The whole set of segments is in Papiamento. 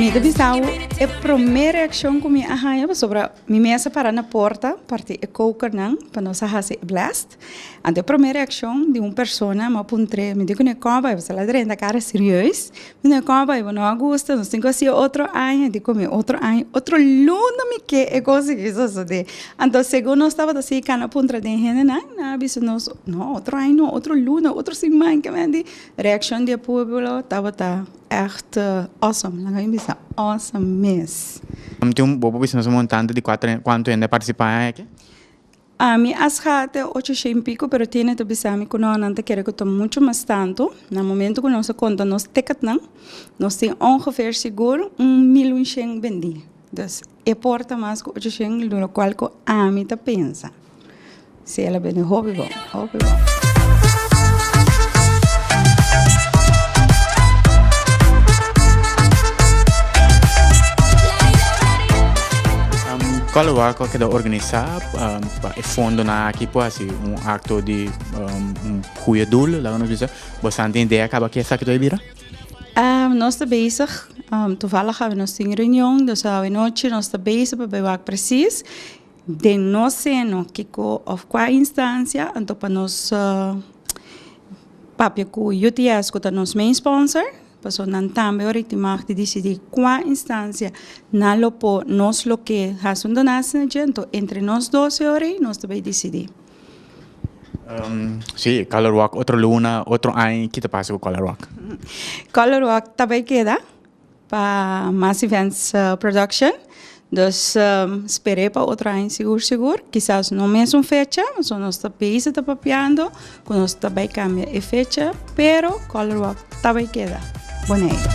Mi ta bisau e promé reakshon ku mi a haña pasobra mi mes a para na porta parti e kokernan pa nos a hasi e blast. Anto e promé reakshon di un persona mi a puntr'é, Mi tin ku ne kòba, i bo sa la drenta kara serieus? Mi tin ku ne kòba, i bo no a gusta? Nos tin ku hasi otro aña, i tin ku mi otro aña, otro luna mi ke e kos aki sosodé. Anto segun nos tabata si kan a puntra den hendenan, nan a bisa nos, No, otro aña no, otro luna, otro siman, ke menti. Reakshon di e públo tabata. Echt awesome laga mi bisa awesome mes. Ami tin un bobo bisa nos un montante di cuatro hende cuanto hende a participa en aki? Ami a sga te ocho shei y pico pero tiene ta bisami cu no nan ta kere cu ta mucho mas tanto na momento cu nos a conta nos ticketnan nos tin ongeveer sigur un milunsheen bendi. E por ta mas ku ochocion lu lo kual ku ami ta pensa. Si el a bini hopi bon, hopi bon. Kua lo wak ku a keda organisa pa e fondonan aki por hasi un akto di un gude dul, laga nos bisa? Boso a tin idea kaba ke esaki ta bai bira? Nos ta bezig, toevallig awe nos tin reunion, dus awe nochi nos ta bezig pa bai wak presis den nos seno kiko of kua instancia, anto pa nos papia ku UTS ku ta nos main sponsor, pasobra nan tambe ora tin mag di disidi kua instancia nan lo por nos loke hasi un donatie na dje, anto entre nos doce ora ei nos ta bai disidi. Sí, Color Walk, otro luna, otro aña, ki ta pasa ku Color Walk? Color Walk ta bai keda pa Mass Events Production, dus sper'é pa otro aña sigur sigur, kisas no mes un fecha, so nos ta bezi ta papiando ku nos ta bai kambia e fecha, pero Color Walk Ta bay keda Boneiru.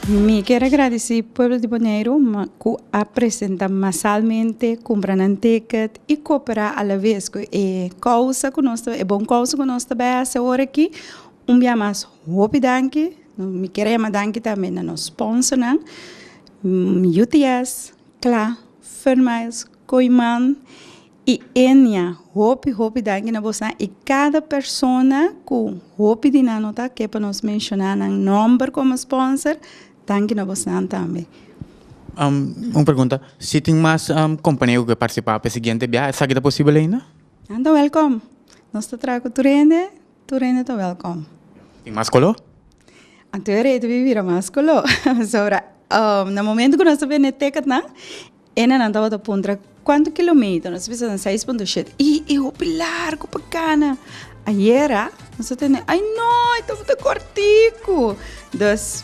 Mi kier a gradeci pueblo di Boneiru cu a presenta masalmente, cumpra nan ticket y coopera a la vez cu e causa cu nos ta, e bon causa cu nos ta bay haci ahora aki. Un bia mas hopi danki. Mi quiere jama danki tambe na nos sponsornan, UTS, cla, Furnmeyers, Kooiman y Enia. Hopi, hopi danki na bosan y cada persona cu hopi di nan no ta ke pa nos menciona nan nomber como sponsor, danki na bosan tambe. Un pregunta, si tin mas compania cu ke participa pa e siguiente biaha, esaki ta posible ainda? Nan ta welcome. Nos ta traha cu tur hende, Tur hende ta wèlkòm. Tin mas koló? Anto e rei ta bin bira mas koló. Pasobra na momentu ku nos ta bende tekatnan, hendenan tabata puntra, Kuantu kilometer? Nos ta bisa den seis punto shete. I e hopi largu pa kana. Ayera nos ta tende, Ai no, e tabata kòrtiku! Dus,